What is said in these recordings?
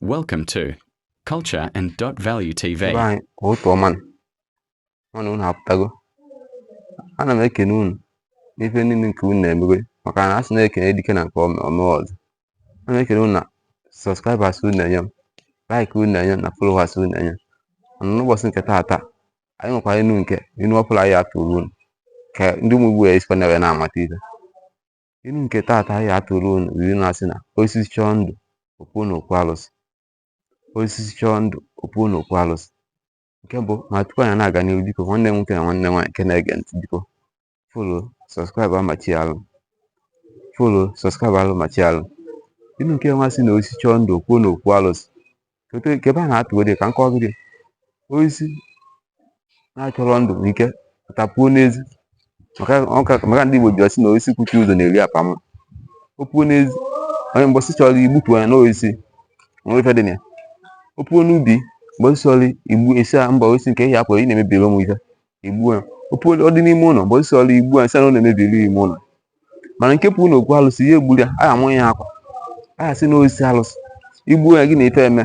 Welcome to Culture and Dot Value TV. Ibe anyị ụtụtụ ọma nụ. Ama m na unu apụtago. Ana m ekene unu n'ife niile nke unu na-emebe maka na a sị na e kene dike na nke o mere o mee ọzọ. Ana m ekene unu na subscribers unu na-enye m, like unu na-enye m na followers unu na-enye m. Mana n'ụbọchị nke taata, anyị nwekwara inu nke inu ọfụrụ anyị atụrụ unu ka ndị ụmụ Igbo ya esikwa na wee na-amata ife. Inu nke taata anyị atụrụ unu bụ inu na-asị na osisi chọọ ndụ o puo n'okwu alụsị osisi chọọ ndụ o puo n'okwu alụsị nke mbụ ma tupu anyị na-aga n'ihu biko nwanne m nwoke na nwanne m nwaanyị nke na-ege ntị biko follow subscribe amachi alụ follow subscribe alụ machi alụ inu nke nwa sị na osisi chọọ ndụ o puo n'okwu alụsị nke ebe a na-atụgo dị ka nke ọgụ dị oisi na-achọrọ ndụ ike tapuo n'ezi maka ndị Igbo ji asị na oisi kwuchi ụzọ na-eri apa mma o puo n'ezi onye mbọsị ị chọrọ igbutu ya n'oisi nwere ife dị na ya o puo n'ubi mbọsị ị chọrọ igbu ị sị ah mba oisi nke ehi apụrụ ị na-emebiri m ife i gbuo ya o puo ọ dị n'ime ụlọ mbọsị ị chọrọ igbu ya sị na ọ na-emebiri ime ụlọ mana nke puo na okwu alụsị ya egburu ya a ya-amụ ya akwa a ya-asị na osisi alụsị i gbuo ya gị na ife eme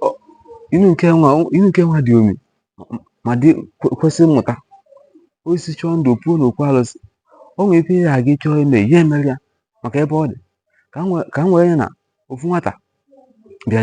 Ọ- inu nke nwa inu nke nwa dị omi ma dị kwe- kwesị mmụta osisi chọọ ndụ o puo na okwu alụsị o nwere ife ya aga ịchọ ime ya emere ya maka ebe ọ dị ka m wee- ka m wee ya na ofu nwata bịa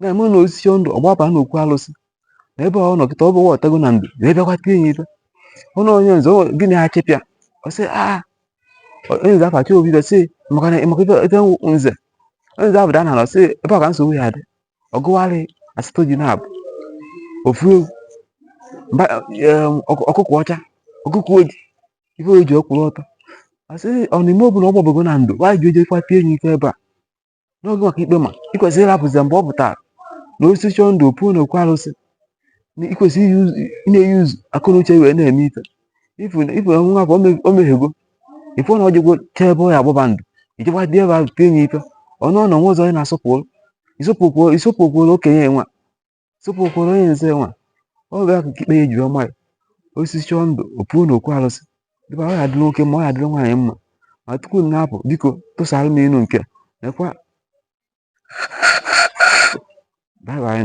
na-eme na osisi ndụ ọ gbaba na okwu alụsị na ebe ọ nọ kịta ọ gbabatago na ndụ wee bịakwa tie ya ife ọnụ onye nze gịnị ha chịpịa ọ sị a ah, onye nze afachi obi ife sị maka na maka ife ebe nze onye nze abụda na sị ebe ọ ka nsogbu ya dị ọ gụwarị asatọ ji na-abụ ofu ewu ọkụkọ ọcha ọkụkọ oji ife oji ọkwụrụ ọtọ asị ọ na-eme ọ bụ na ọ gbabago na ndụ nwaanyị ji ejekwa tie ya ife ebe a n'oge nwa ka ikpe ma ị kwesịrị ịrapụzi ya mgbe ọ pụtara na osisi chọọ ndụ o puo na okwu alụsị na ị kwesịrị i-use- ị na-e-use akọ na uche wee na-eme ife ị fụ na ị fụ na nwa afụ o me- o mehiego ị fụ na o jego chee ebe ọ ya-agbaba ndụ i jekwa dị ebe ahụ tie nye ife ọnụ ụnọ nwa ụzọ onye na-asọpụrụ ị sọpụkwụrọ ị sọpụkwụrọ okenye nwa sọpụkwụrọ onye nze nwa ọ bụ ya ka ikpe ya-eji ama ya osisi chọọ ndụ o puo n'okwu alụsị dịba ọ ya-adịrị nwoke mma ọ ya-adịrị nwaanyị mma ma tupu m na-apụ biko tụsara m inu nke nekwa bye bye